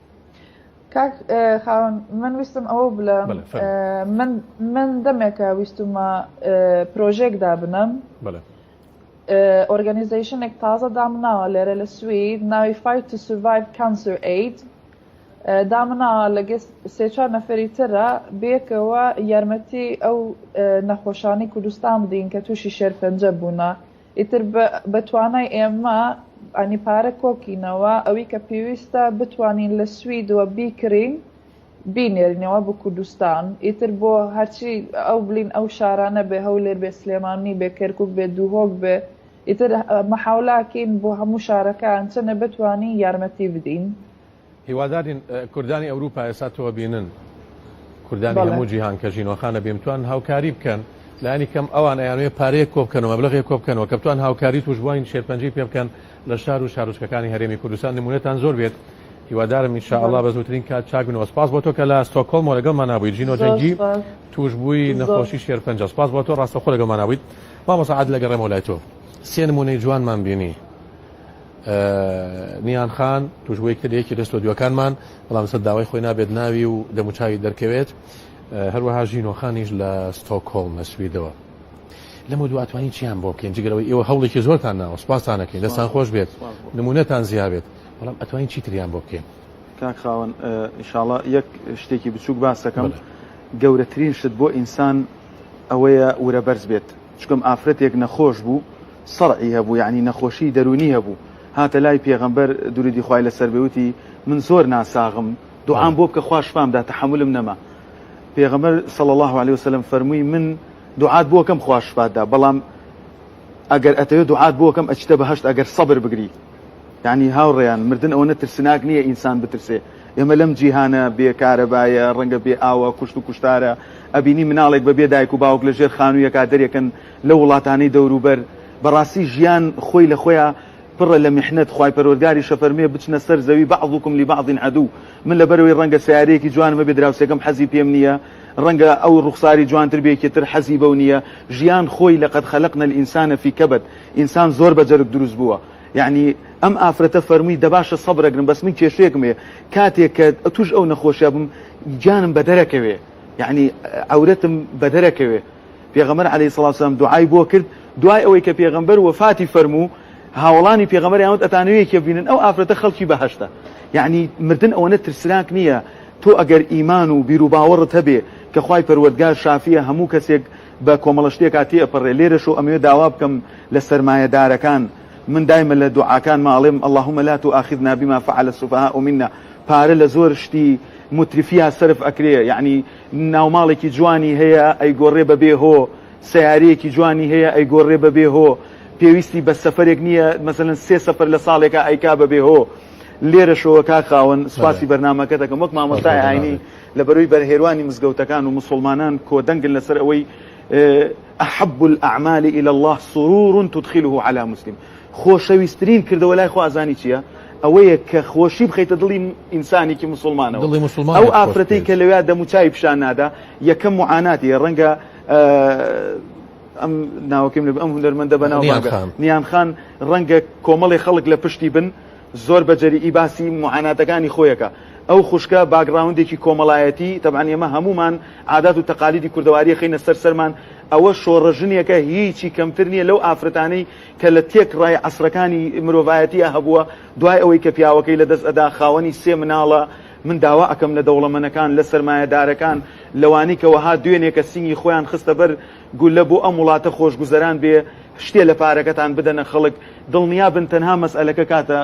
[SPEAKER 7] کاک خاوەن من ویستم ئەوە بلم من دەمێکە ویستمە پرۆژێک دابنم ئۆرگەنیزیشنێک تازە دامناوە لێرە لە سوید ناوی فایت تو سوڤایڤ کانسر ئەید دامناوە لەگە سێچوار نەفری ترە بێکەوە یارمەتی ئەو نەخۆشانی کوردستان بدین کە تووشی شێرپەنجە بوونە ئیتر بە توانای ئێمە ئەنی پارە کۆکینەوە ئەوی کە پێویستە بتوانین لە سویدوە بیکرین بینێرینەوە بۆ کوردستان ئیتر بۆ هەرچی ئەو بلین ئەو شارانە بێ هەولێر بێ سلێمانی بێ کەرکک بێ دووهۆک بێ ئیتر مەحاولاکین بۆ هەموو شارەکان چەنە بتوانین یارمەتی بدین هیوادارین
[SPEAKER 1] کوردانی ئەوروپا ئێستا تۆ بینن کوردانی هەموو جیهان کە ژینۆخانە بێمتوان هاوکاری بکەن لانی کەم ئەوان ئەیانوێ پارەیە کۆبکەن و مەبلغێ کۆبکەنەوە کە بتوان هاوکاری توشبووین شێرپەنجی پێ بکەن لە شار و شارۆچکەکانی هەرێمی کوردستان نمونەتان زۆر بێت هیوادارم انشاءله بە زووترین کات چاک بنەوە سپاس بۆ تۆ کە لە ستۆکۆڵم لەگەڵمان نبوویت ژینۆ جەنگی توشببووی نەخۆشی شێر پنج سپاس بۆ تۆ ڕاستەخۆ لەگەڵمان نبوویت مامۆسەعات لەگەڕێمەوە لای تۆ سێ نمونەی جوانمان بینی نیان خان توشبوی کە لەیەکی لە ستۆدیۆکانمان بەڵام سەر داوای خۆی نابێت ناوی و دەموچاوی دەرکەوێت هەروەها ژینۆخانیش لە ستۆکۆڵ نەسویدەوە لەمە دواتوانین چیان بۆ بکەین جگەرەوەی ئێوە هەوڵێکی زۆرتان ناوە سپاسانەکەین دەستان خۆش بێت نمونەتان زیابێت بەڵام ئەتوانین چیتریان بۆ بکەین کاک خاوەن
[SPEAKER 2] ئیشاڵە یەک شتێکی بچووک باسەکەم گەورەترین شت بۆ ئینسان ئەوەیە ورە بەرز بێت چونکم ئافرەتێک نەخۆش بوو صرعی هەبوو یەعنی نەخۆشی دەروونی هەبوو هاتە لای پێغەمبەر دروودی خوای لەسەر بێ وتی من زۆر ناساغم دوعام بۆ بکە خوا شفام دا تەحەمولم نەما پێغەمبەر صلی الله علیه وسلم فەرمووی من دوعات بۆ کەم خوا شفات دا بەڵام ئەگەر ئەتەوێ دوعات بۆ کەم ئەچیتە بەهەشت ئەگەر سەبر بگری یعنی هاوڕێیان مردن ئەوەنە ترسناک نییە ئینسان بترسێ ئێمە لەم جیهانە بێ کارەبایە ڕەنگە بێ ئاوە کوشت و کوشتارە ئەبینی مناڵێک بە بێ دایک و باوک لە ژێر خانوویەکە دەرێکن لە وڵاتانی دەوروبەر بەڕاستی ژیان خۆی لە خۆیان پڕە لە محنەت خی پەرۆرگاری شەفەرمێ بچنە سەر زەوی بەعضکم لی بەعضین عدو من لە بەرەوەی ڕەنگە سیارەیەکی جوانمە بێ دراوسێکم حەزی پێم نییە ڕەنگە ئەو ڕوخساری جوانتر بێکی تر حەزی بەو نییە ژیان خۆی لە قەد خەلقنە ئینسانە فی کەبەت ئینسان زۆر بە جەرگ دروست بووە یەعنی ئەم ئافرەتە فەرمووی دەباشە سەبرەگرم بەس من کێشەیەکم هەیە کاتێک کە توش ئەو نەخۆشە بم گیانم بەدەرەکەوێ یەعنی عورەتم بەدەرەکەوێ پێغەمەر علی سلاسلام دوعای بۆ کرد دوای ئەوەی کە پێغەمبەر وەفاتی فەرموو هاوڵانی پێغەمەر یاوت ئەتانوێ کە بینن ئەو ئافرەتە خەڵکی بەهشتا یعنی مردن ئەوەنە ترسناک نییە تۆ ئەگەر ئیمان و بیرروباوەڕت هەبێ کە خی پەروەردگار شافیە هەموو کەسێک بە کۆمەڵە شتێکا تێئەپەڕێ لێرەشۆ ئەمەوێ داوا بکەم لە سەرمایەدارەکان من دایمە لە دوعاکانما ئەڵێم اللهم لا تواخذنا بما فعل السفهاء منا پارە لە زۆر شتی مترفیە سەرف ئەکرێ یعنی ناوماڵێکی جوانی هەیە ئەیگۆڕێ بە بێ هۆ سیارەیەکی جوانی هەیە ئەیگۆڕێ بە بێ هۆ پێویستی بە سەفرێک نییە مەسەن سێ سەفر لە ساڵێکە ئەیکا بە بێ هۆ لێرەشەوە کاک خاوەن سوپاسی بەرنمەکە دەکەم وەک مامۆستای ئاینی لە بەروی بەرهێروانی مزگەوتەکان و موسوڵمانان کۆدەنگن لەسەر ئەوەی، احب الاعمال الی اللە سرور تدخله علی مسلم، خۆشەویسترین کردەوە لای خوا زانی چییە؟ ئەوەیە کە خۆشی بخەیتە دڵی ئینسانێکی موسوڵمانەوە. دڵی موسوڵمانێک خۆش بکەیت. ئەو ئافرەتەی کە لەوێا دەم و چاوی پیشان نادا یەکەم معاناتی هەیە، ڕەنگە ئەم ناوەکەی من ئەم هونەرمەندە بەناو بانگە، نیان خان، ڕەنگە کۆمەڵێ خەڵک لە پشتی بن زۆر بە جەریی باسی موعاناتەکانی خۆیەکە ئەو خوشکە باگراوندێکی کۆمەڵایەتی تەبعەن ئێمە هەموومان عادات و تەقالیدی کوردەواریە خینە سەر سەرمان ئەوە شۆڕە ژنێکە هیچی کەمتر نییە لەو ئافرەتانەی کە لە تێک ڕای عسرەکانی مرۆڤایەتیە هەبووە دوای ئەوەی کە پیاوەکەی لە دەست ئەدا خاوەنی سێ مناڵە من داوا ئەکەم لە دەوڵەمەنەکان لە سەرمایەدارەکان لەوانی کە وەها دوێنێکە سینگی خۆیان خستە بەر گولە بۆ ئەم وڵاتە خۆشگوزەران بێ شتێ لە پارەکەتان بدەنە خەڵک دڵنیا بن تەنها مەسئلەکە کاتە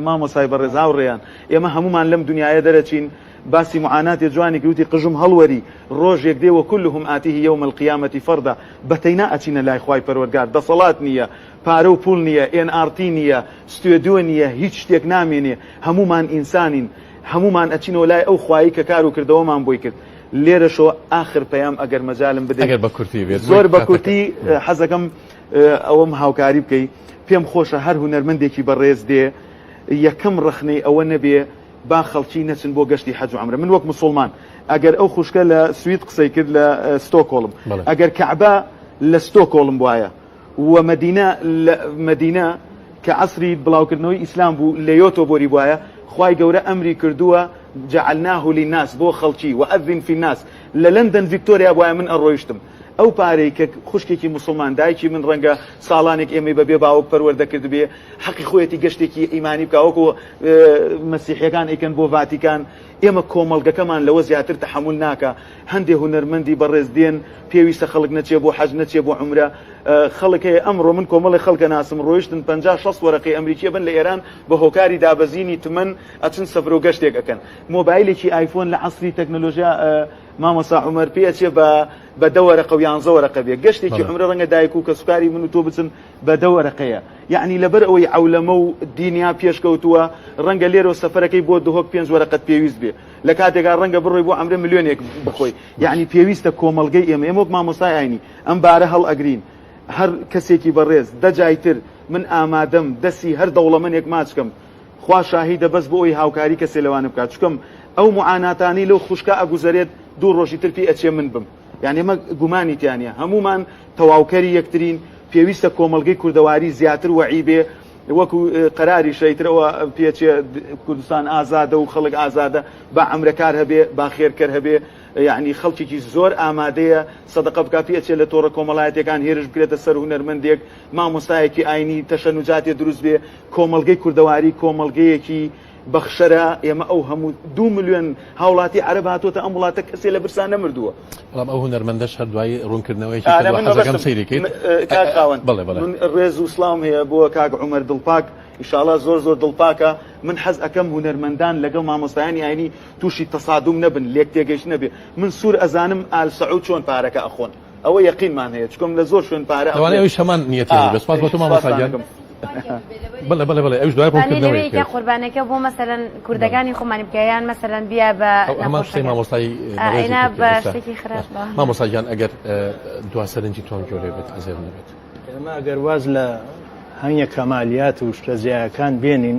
[SPEAKER 2] مامۆسای بەڕێز هاوڕێیان ئێمە هەمومان لەم دنیاە دەرەچین باسی معاناتێ جوانی کەوتی قژم هەڵوەری ڕۆژێک دێ وە کلهم ئاتیه یوم القیامەتی فەردا بەتەینا ئەچینە لای خوای پەروەرگار دەسەڵات نییە پارە و پول نییە ئێن ئارتی نییە ستێدیۆ نییە هیچ شتێک نامێنێ هەمومان ئینسانین هەمومان ئەچینەوە لای ئەو خوایی کە کار و کردەوەمان بۆی کرد لێرەشەوە ئاخر پەیام ئەگەر مەجالم بدەیت ئەگەر بە کورتی بێت زۆر بە کورتی حەزەکەم ئەوەم هاوکاری بکەی پێم خۆشە هەر هونەرمەندێکی بەڕێز دێ یەکەم ڕخنەی ئەوە نەبێ با خەڵکی نەچن بۆ گەشتی حەج و عمرە من وەک مسلمان ئەگەر ئەو خوشکە لە سوید قسەی کرد لە ستۆکۆڵم ئەگەر کەعبە لە ستۆکۆڵم وایە و مەدینە لە مەدینە کە عەسری بڵاوکردنەوەی ئیسلام بوو لەیۆتۆ بۆری بوایە خوای گەورە ئەمری کردووە جعلناه للناس بۆ خەڵکی وأذن فی الناس لە لەندەن ڤیکتۆریا بوایە من ئەڕۆیشتم ئەو پارەی کە خوشکێکی موسڵمان دایکی من ڕەنگە ساڵانێک ئێمەی بە بێ باوک پەروەردە کردبێ حەقی خۆیەتی گەشتێکی ئیمانی بکا وەکو مەسیحیەکان ئەیکەن بۆ ڤاتیکان ئێمە کۆمەڵگەکەمان لەوە زیاتر تەحەمول ناکا هەندێ هونەرمەندی بەڕێز دێن پێویستە خەڵک نەچێ بۆ حەج نەچێ بۆ عومرە خەڵک هەیە ئەمڕۆ من کۆمەڵێ خەڵکە ناسم ڕۆیشتن پەنجا شەست وەرەقەی ئەمریکیە بن لە ئێران بە هۆکاری دابەزینی تمەن ئەچن سەفرو گەشتێک ئەکەن مۆبایلێکی ئایفۆن لە عەسری تەکنەلۆژیا مامۆسا عومەر پێ ئەچێ بە بە دە وەرەقە و یانزە وەرەقە بێ گەشتێکی عمرە ڕەنگە دایک و کەسوکاری من و تۆ بچن بە دە وەرەقەیە یعنی لەبەر ئەوەی عولەمە و دینیا پێشکەوتووە ڕەنگە لێرەوە سەفەرەکەی بۆ دهۆک پێنج وەرەقەت پێویست بێ لە کاتێکا ڕەنگە بڕۆی بۆ ئەمرێ ملیۆنێک بخۆی یعنی پێویستە کۆمەلگەی ئێمە ئێمە وەک مامۆسای ئاینی ئەم بارە هەڵ ئەگرین هەر کەسێکی بەڕێز دەجایتر من ئامادەم دەسی هەر دەوڵەمەنێک ماچکەم خوا شاهیدە بەس بۆ ئەوی هاوکاری کەسێ لەوانە بکات چکەم ئەو معاناتانی لەو خوشکە ئەگوزەرێت دوو ڕۆژی تر پێ ئەچێ من بم یانی ئەمە گومانی تیا نیە هەمومان تەواوکەری یەکترین پێویستە کۆمەڵگەی کوردەواری زیاتر وەعی بێ وەکو قەراری شەیترەوە پێچێ کوردستان ئازادە و خەڵک ئازادە با ئەمرەکار هەبێ با خێرکەر هەبێ یعنی خەڵکێکی زۆر ئامادەیە سەدەقە بک پێچێ لە تۆڕە کۆمەڵایەتەکان هێرش بکرێتە سەر هوەرمەندێک مامۆستایەکی ئاینی تەشەنوجاتێ دروست بێ کۆمەلگەی کوردەواری کۆمەلگەیەکی بەخشەرە ئێمە ئەو هەموو دوو ملیۆن هاوڵاتی عەرەب هاتۆتە ئەم وڵاتە کەسێ لە برسا نەمردووە بەڵام ئەو هونەرمەندەش
[SPEAKER 1] هەر دوای ڕوونکردنەوەیەکی آره، کردوە من حەزەکەم مەبەستم سەیری کرد م- اه، کاک خاوەن بەڵێ
[SPEAKER 2] بەڵێ من ڕێز و سڵاوم هەیە بۆ کاک عومەر دڵپاک ئیشاڵا زۆر زۆر دڵپاکە من حەز ئەکەم هونەرمەندان لەگەڵ مامۆستایانی ئاینی تووشی تەسادوم نەبن لێکتێگەیشتن نەبێ من سوور ئەزانم ئال سەعوود چۆن پارەکە ئەخۆن ئەوە یەقینمان هەیە چکۆم لە زۆر شوێن پارە لەوانەیە ئەویش هەمان نیەتی
[SPEAKER 1] بێت سپاس بۆ تۆ مامۆستا گیان بەڵێ بەڵێ بەڵێ ئەوش دوای ڕوونکردنەوەی کە قوربانەکە بۆ مەسەلەن
[SPEAKER 5] کوردەکانی خۆمانی بکەیان مەسەلەن بیا بە هەمان قسەی
[SPEAKER 1] مامۆستای ئێنا بە
[SPEAKER 5] شتێکی خراپ مامۆستا گیان ئەگەر
[SPEAKER 1] دوا سەرنجی تۆم گۆرێ بێت ئەزێر نەبێت ئێمە ئەگەر واز
[SPEAKER 3] لە هەنگە کەمالیات و شتە زیایەکان بێنین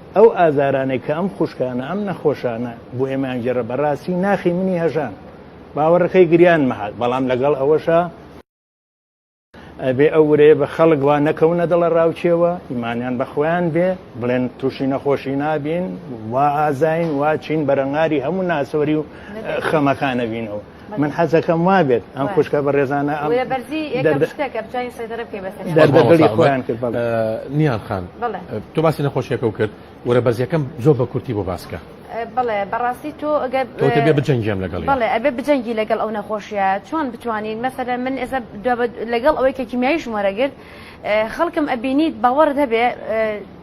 [SPEAKER 3] ئەو ئازارانەی کە ئەم خوشکانە ئەم نەخۆشانە بۆ ئێمەیان گێڕە بەڕاستی ناخی منی هەژان باوەڕەکەی گریان مەهات بەڵام لەگەڵ ئەوەشە ئەبێ ئەو ورەیە بە خەڵک وا نەکەونە دڵە ڕاوچێەوە ئیمانیان بەخۆیان بێ بڵێن تووشی نەخۆشی نابین وا ئازین وا چین بەرەنگاری هەموو ناسۆری و خەمەکانەبینەوە من حەزەکەم وابێت ئەم خوشکە بە ڕێزانە ئەم نیان
[SPEAKER 1] خان تۆ باسی نەخۆشیەکە و کرد وەرە بەرزیەکەم زۆر بە کورتی بۆ باسکە
[SPEAKER 5] بڵێ بەڕاستی تۆ ئەگەبێ بجەنگیان
[SPEAKER 1] لەگەڵ بڵێ ئەبێ بجەنگی لەگەڵ
[SPEAKER 5] ئەو نەخۆشیە چۆن بتوانین مەسەرە من ئێستا لەگەڵ ئەوەی کە کیمیایش وەرەگرت خەڵکم ئەبینیت باوەڕت هەبێ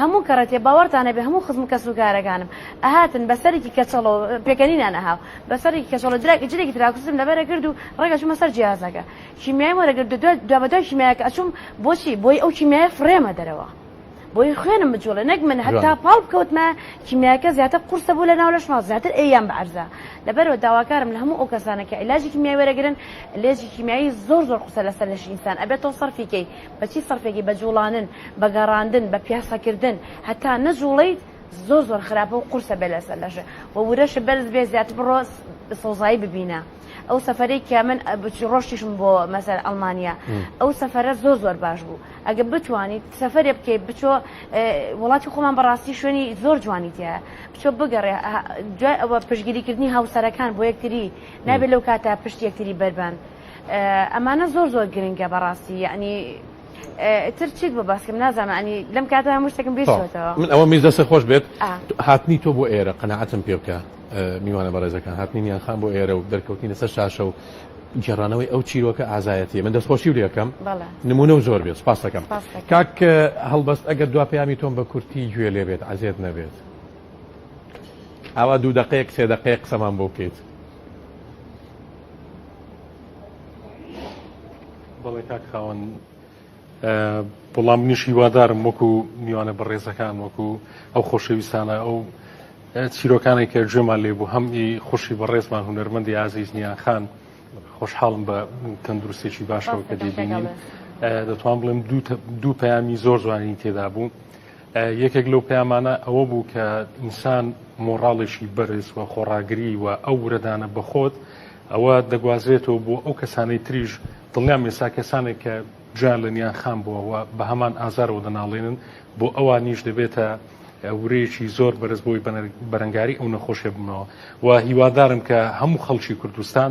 [SPEAKER 5] هەموو کەڕەتێ باوەڕتان هەبێ هەموو خزم کەس و کارەکانم ئەهاتن بە سەرێکی کەچەڵەوە پێکەنینان ئەهاو بە سەڕێکی کەچەڵە دراک ئیجرێکی تراکتوسم لە بەر ئەکرد و ڕێک ئەچوومە سەر جیهازەکە کیمیایم وەرەگرت و دوابەدوای کیمیایەکە ئەچووم بۆچی بۆی ئەو کیمیایە فڕێمە دەرەوە بۆی خوێنم بجوڵێ نەک من هەتا پاڵ بکەوتمە کیمیاکە زیاتر قورسە بوو لە ناو لەش ماڵ زیاتر ئەیام بە عەرزە لەبەرەوە داواکارم لە هەموو ئەو کەسانە کە عیلاجی کیمیای وەرەگرن لێجی کیمیایی زۆر زۆر قورسە لەسەر لەشی ئینسان ئەبێت تۆ سەرفی کەی بە چی سەرفێکی بە جوڵانن بە گەڕاندن بە پیاسەکردن هەتا نەجوڵیت زۆر زۆر خراپە و قورسە بێ لەسەر لەشە و ورەشە بەرز بێ زیاتر بڕۆ سەوزایی ببینە ئەو سەفرەی کە من بچی ڕۆشتیشم بۆ مەسەر ئەلمانیا ئەو سەفرە زۆر زۆر باش بوو ئەگە بتوانیت سەفرێ بکەیت بچۆ وڵاتی خۆمان بەڕاستی شوێنی زۆر جوانی تیا بچۆ بگەڕێ دوای ئەوە پشگیریکردنی هاوسەرەکان بۆ یەکتری نابێت لەو کاتە پشت یەکتری بەربان ئەمانە زۆر زۆر گرنگە بەڕاستی یعنی تر چیت بۆ باسکم نازانم ئەنی لەم کاتە هەموو شتێکم بیرەوە من ئەوە میز دەسە خۆش
[SPEAKER 1] بێت هاتنی تۆ بۆ ئێرە قەنەعەتم پێ بکە میوانە بەڕێزەکان هاتنی نیان خان بۆ ئێرە و دەرکەوتنی لەسەر شاشە و گێڕانەوەی ئەو چیرۆکە ئازایەتی من دەستخۆشی ورەکەم نمونە و زۆر بێت سپاس دەکەم کاک هەڵبەست ئەگەر دو پەیامی تۆم بە کورتی گوێ لێ بێت عزیێت نەبێت ئاوا دوو دقەیەک سێ دقەیە قسەمان بۆ بکەیت
[SPEAKER 4] بەڵێ کاک خاوەن بڵام نیش هیوادارم وەکو میوانە بەڕێزەکان وەکو ئەو خۆشەویستانە ئەو چیرۆکانی کە گوێمان لێ بوو هەم ئی خوشی بەڕێزمان هوەرمەندی ئازیز نیان خان خۆشحاڵم بە تەندروستێکی باشەوە کە دەبینین دەتوان بڵێم دوو پەیامی زۆر جوانی تێدا بوو. یەکێک لەو پەیامانە ئەوە بوو کە ئینسان مۆڕاڵێکی بەرز و خۆڕاگری و ئەو ورەدانە بەخۆت ئەوە دەگوازرێتەوە بۆ ئەو کەسانەی تریش دڵنیام ئێستا کەسانێک کە جویان لە نیان خام بووەوە بە هەمان ئازارەوە دەناڵێنن بۆ ئەوانیش دەبێتە ورەیەکی زۆر بەرز بۆی بەرەنگاری ئەو نەخۆشێ بنەوە و هیوادارم کە هەموو خەڵکی کوردستان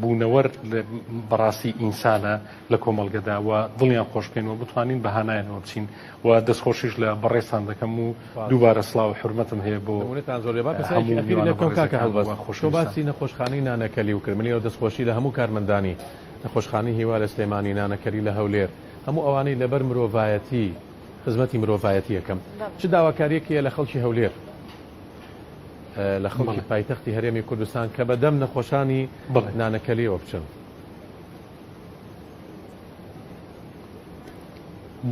[SPEAKER 4] بوونەوەر بەڕاستی ئینسانە لە کۆمەڵگەدا و دڵیان خۆش بکەین و بتوانین بە هانایانەوە بچین و دەستخۆشیش لە بەڕێستان دەکەم و دووبارە سلااو حرمەتم هەیە
[SPEAKER 1] بۆ باسی نەخۆشخانەی نانەکەلی و کرمنی و دەستخۆشی لە هەموو کارمەندانی نەخۆشخانەی هیوا لە سلێمانی نانەکەلی لە هەولێر هەموو ئەوانەی لەبەر مرۆڤایەتی خزمەتی مرۆڤایەتی یەکەم چ داواکاریەک هەیە لە خەڵکی هەولێر؟ لە خەڵکی پایتەختی هەرێمی کوردستان کە بەدەم نەخۆشانی نانەکەلیەوە بچن.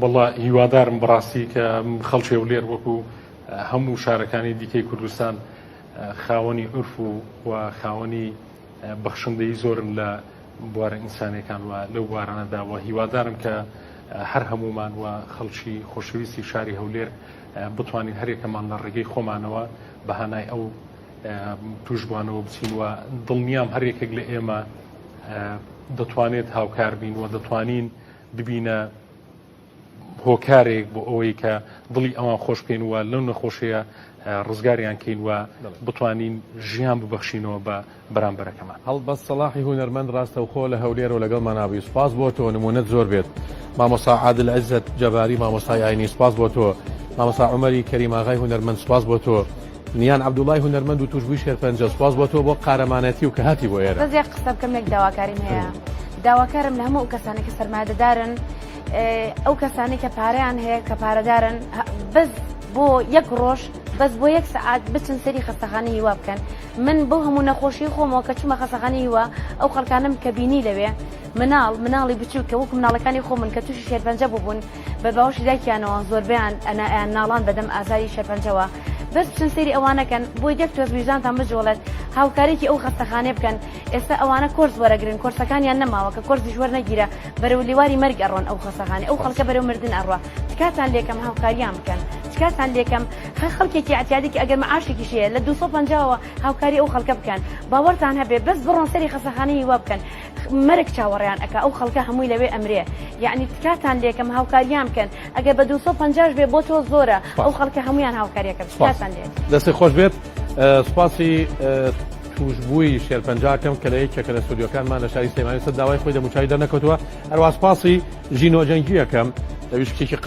[SPEAKER 4] بەڵا هیوادارم بڕاستی کە خەڵکی و لێر وەکو هەموو شارەکانی دیکەی کوردستان خاوەنی عرف و و خاوەنی بەخشندەی زۆرن لە بوارە ئینسانەکان وە لەو بوارانەدا وە هیوادارم کە هەر هەمومان وە خەڵکی خۆشەویستی شاری هەولێر بتوانین هەریەکەمان لە ڕێگەی خۆمانەوە بە هانای ئەو توشبوانەوە بچین و دڵنیام هەریەکێک لە ئێمە دەتوانێت هاوکار بین و دەتوانین ببینە هۆکارێک بۆ ئەوەی کە دڵی ئەوان خۆش بکەین وە لەو نەخۆشەیە ڕزگاریان کەین وە بتوانین ژیان ببەخشینەوە بە بەرامبەرەکەمان. هەڵبەت سەڵاحی
[SPEAKER 1] هونەرمەند ڕاستەوخۆ لە هەولێرە و لەگەڵمان ئابووی سوپاس بۆ تۆ نموونەت زۆر بێت مامۆستا عادل عزەت جەباری مامۆستای ئاینی سوپاس بۆ تۆ مامۆستا عومەری کەریم ئاغای هونەرمەند سوپاس بۆ تۆ نیان عەبدوڵای هونەرمەند و توشبووی شێرپەنجە سوپاس بۆ تۆ بۆ قارەمانەتی و کە هاتی بۆ ئێرە. بەس یەک قسە بکەم یەک داواکاریم
[SPEAKER 5] هەیە داواکارم لە هەموو ئەو کەسانەی کە سەرمایەدەدارن ئەو کەسانەی کە پارەیان هەیە کە پارەدارن بەس بۆ یەک ڕۆژ بەس بۆ یەک سەعات بچن سەیری خەستەخانەی هیوا بکەن من بەو هەموو نەخۆشیەی خۆمەوە کە چومە خەسەخانەی هیوا ئەو خەڵکانەم کە بینی لەوێ مناڵ مناڵی بچوک کە وەکو مناڵەکانی خۆمن کە توشی شێرپەنجە بوبون بە باوەشی دایکیانەوە زۆربەیان ئەنا ئەیان ناڵان بە دەم ئازاری شێرپەنجەوە بەس بچن سەیری ئەوانە کەن بۆ یەک تۆز ویژدانتان بجوڵێت هاوکاریکی ئەو خەستەخانەیە بکەن ئێستا ئەوانە کۆرس وەرەگرن کۆرسەکانیان نەماوە کە کۆرسیش وەرنەگیرا بەرەو لیواری مەرگ ئەڕۆن ئەو خەسەخانەی ئەو خەڵکە بەرەو مردن ئەڕوا تکاتان لێکەم هاوکاریان بکەن تکاتان لێکەم هەر خەڵکێکی عتیادێکی ئەگەر معاشێکیش هەیە لە 250ەوە هاوکاری ئەو خەڵکە بکەن باوەڕتان هەبێ بەس بڕۆن سەری خەسەخانە هیوا بکەن مەرگ چاوەڕیان ئەک ئەو خەڵکە هەمووی لەوێ ئەمرێ یعنی تکاتان لێکەم هاوکاریان بکەن ئەگەر بە 250 بێ بۆ تۆ زۆرە ئەو خەڵکە هەمویان هاوکاریەکە بکاتان لێت دەستی خۆش بێت
[SPEAKER 1] سوپاسی تووشبووی شێرپەنجەکەم کە لە یەکێکە لە ستۆدیۆکانمان لە شاری سلێمانی سەر داوای خۆی دەموچاوی دەرنەکەوتووە، هەروەها سوپاسی ژینۆ جەنگییەکەم، دەرویش کچێکی قا